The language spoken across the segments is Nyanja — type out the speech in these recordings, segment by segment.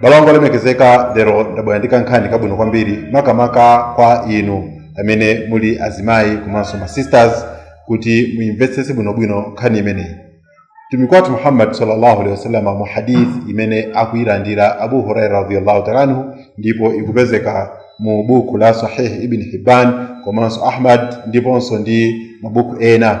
m'bale wanga olemekezeka lero ndabwera ndi kankhani kabwino kwambiri makamaka kwa inu amene muli azimayi komanso ma sisters kuti muimvetsetse bwinobwino nkhani imeneyi mtumiki wathu muhammad sallallahu alaihi wasallam mu hadith imene akuyilandira abu huraira radhiyallahu taala anhu ndipo ikupezeka mu buku la sahih ibn hibban komanso ahmad ndiponso ndi mabuku ena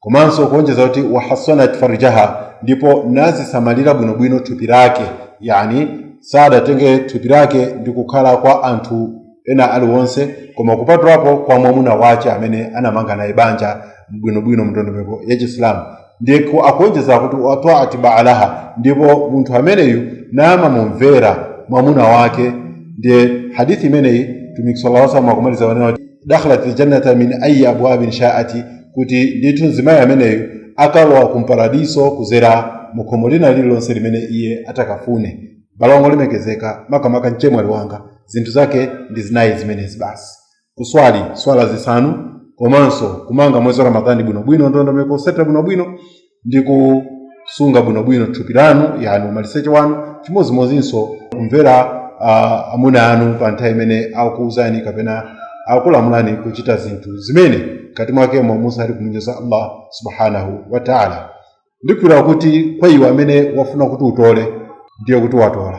komanso kuonjeza kuti wahasanat farjaha ndipo nazisamalira bwinobwino thupi lake yani sadatenge thupi lake ndi kukhala kwa anthu ena aliwonse koma kupatulapo kwa mwamuna wace amene anamanga naye banja bwinobwino mndondomeko ya chisilamu ndiye ku- akuonjeza kuti waataat baalaha ndipo munthu ameneyu namamumvera mwamuna wake ndiye hadithi imeneyi mtumiki sallallahu alaihi wasallam akumaliza nanena kuti dakhalatil jannata min ayi abwabiha shaat kuti ndithu mzimayi ameneyu akalowa ku paradiso kuzera mu khomo lina lililonse limene iye atakafune m'bale wanga olemekezeka makamaka mchemwali wanga zinthu zake ndi zinayi zimenezi basi kuswali swala zisanu komanso kumanga mwezi wa ramadhani bwinobwino ndondomeko otsatira bwinobwino ndi kusunga bwinobwino thupi lanu yani umaliseche wanu chimodzimodzinso kumvera uh, amuna anu pa nthawi imene akukuuzani kapena akulamulani kuchita zinthu zimene mkati mwakemo musali kumunyoza allah subhanahu wa taala ndikhulupirira kuti kwa iwe amene wafuna kuti utole ndiye kuti watola